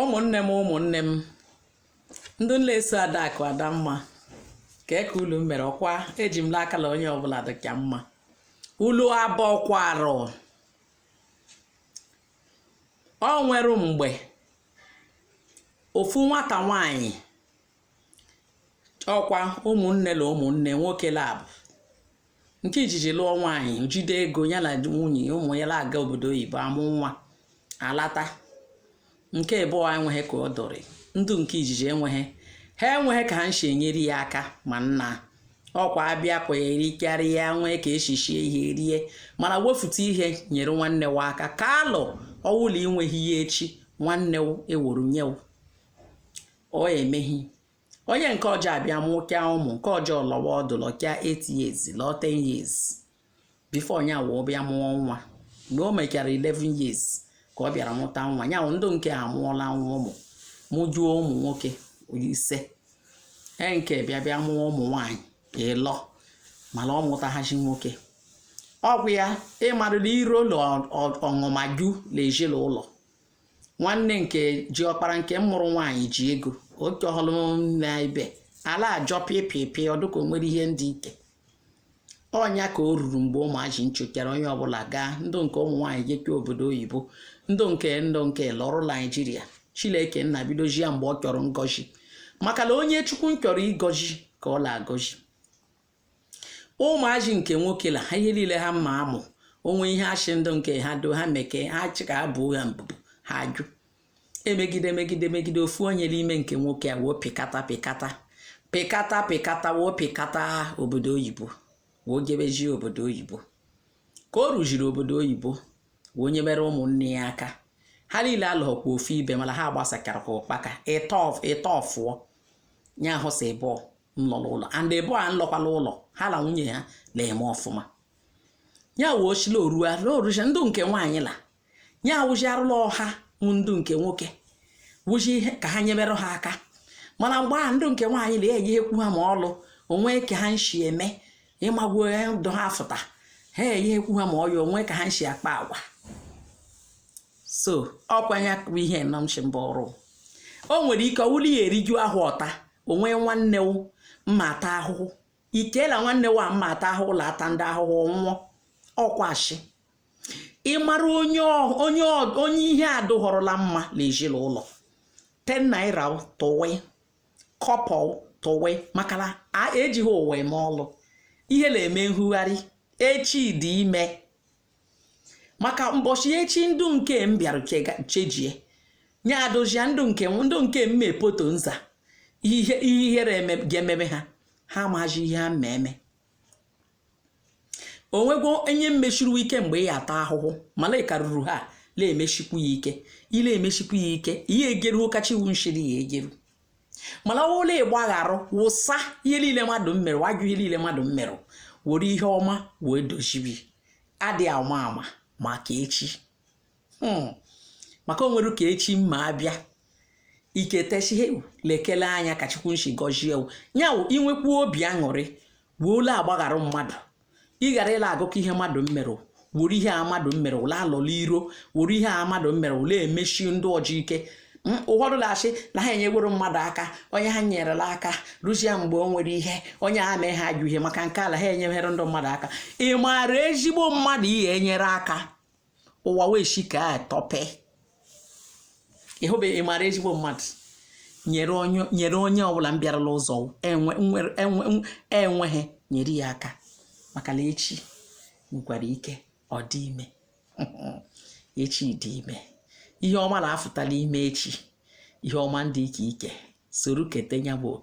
ụmụnne m ụmụnne m ndị la eso adakụ adamma kee ka ulu mere ọkwa eji m n'aka la onye ọbụla dịcha mma ulu abọkwara o nwere mgbe ofu nwata nwanyị ọkwa ụmụnne na ụmụnne nwoke laabọ nke ijiji lụọ nwaanyị jide ego ya na nwunye ụmụ ya na-aga obodo oyibo amụ nwa alata nke abụọ enweghị ka ọ dọrị ndụ nke ijiji enweghị ha enweghị ka ha nshi enyere ya aka mana ọkwa abịa kwa erikarịa nwee ka eshichie ihe rie mana wefute ihe nyere nwanne wu aka ka alụ ọ wụla i nweghị ihe echi nwanne wu eweru nye wu o meghị onye nke ọzọ abịa mụkịa ụmụ nke ọzọ lọwa ọdụ lọkịa 8 years lọọ 10 years before onye ahụ bịa mụọ nwa mgbe o mechara 11 years ka ọ bịara mụta nwa ya ndụ nke a mụọla nwa ụmụ mụjuo ụmụ nwoke ise e nke bịa bịa mụọ ụmụ nwaanyị ịlọ mana ọ mụtaghashị nwoke ọgwụ ya ị marịla iro la ọṅụma ju l'ezi la ụlọ. nwanne nke ji ọkpara nke mụrụ nwaanyị ji ego otu ọhụrụ na ibe ala ajọ pịpịpị ọ dịka o nwere ihe ndị ike ọnya ka o ruru mgbe ụmụazị nchụkere onye ọbụla gaa ndụ nke ụmụ nwaanyị jeke obodo oyibo ndụ nke ndụ nke lọrụ naijiria chileke nna bidozịa mgbe ọ chọrọ ngọzi maka na onye chukwu chọrọ ịgọzi ka ọ na-agọzi ụmụazị nke nwoke la ha ihe niile ha mma amụ o nwee ihe achị ndụ nke ha do ha meke ha achị ka ha buo ha mbubu ha ajụ emegide megide megide ofu onye n'ime nke nwoke a woo pịkata pịkata pịkata pịkata woo pịkata obodo oyibo woo jebezie obodo oyibo ka o ruziri obodo oyibo wee nyebere ụmụnne ya aka ha niile alọghọkwa ofu ibe mana ha gbasakara ka ụkpaka ịtọ fụọ ya ahụ si ịbụọ nlọrọ ụlọ and ịbụọ a nlọkwa la ụlọ ha na nwunye ha na-eme ọfụma ya wee ochila orua n'oruche ndụ nke nwaanyị la ya awụji arụla ọha mụ ndụ nke nwoke wụji ihe ka ha nyebere ha aka mana mgbe a ndụ nke nwaanyị na enye ekwu ha ma ọlụ o nwe ka ha nshi eme ịmagwo ndụ ha fụta ha enye ekwu ha ma ọya o nwe ka ha nshi akpa agwa so ọkwanye akụkọ ihe nọ m mbụ ọrụ o nwere ike ọ wụrụ ya eriju ahọ taa o nwee nwanne wu mma ata ahụhụ i cheela nwanne wu a mma ata ahụhụ la ata ndị ahụhụ nwụọ ọkwashi ị mara onye onye onye ihe adụghọrọla mma na ezinụlọ ten naira tụwe kọbọ tụwe maka na ejighị ụwa eme ọlụ ihe na-eme nhugharị echi dị ime maka mbọchị echi ndụ nke m bịara chejie nye adozia ndụ nke ndụ nke m mepoto nza ihe ihere ga-ememe ha ha amaghị ihe ha mmeme onwegwo onye mmeshiri ike mgbe ị ya ata ahụhụ mana ị karụrụ ha na-emeshikwu ya ike ị na-emeshikwu ya ike ihe egeruo kacha iwu nshiri ya egeru mana ọ bụrụ na ị gbagharụ wụsa ihe niile mmadụ mmerụ wajụ ihe niile mmadụ mmerụ were ihe ọma wee dozibe adị ama ama maka echi hmm. maka o nwere ka echi mma abịa iketesihe lekele anya ka chukwu nshi gọzie ya wụ inwekwu obi aṅụrị wee la-agbagharụ mmadụ ị ghara ịla agụkọ ihe mmadụ mmerụ were ihe a mmadụ mmerụ la alọla iro were ihe a mmadụ mmerụ la-emeshi ndị ọzọ ike ụfọdụ na-asị na ha enyeworo mmadụ aka onye ha nyerela aka ruzie mgbe o nwere ihe onye a mee ha ajọ ihe maka nke a la ha enyeghere ndị mmadụ aka ị maara ezigbo mmadụ ị ya-enyere aka ụwa wee shi ka a tọpe ịhụbeghị mara ezigbo mmadụ nyere onye nyere onye ọbụla mbịara la ụzọ enwe nwere- enwe nw- enweghị nyere ya aka maka la echi nwekwara ike ọ dị ime echi dị ime ihe ọma na-afụtala ime echi ihe ọma ndị ike ike soro kete ya bụ oke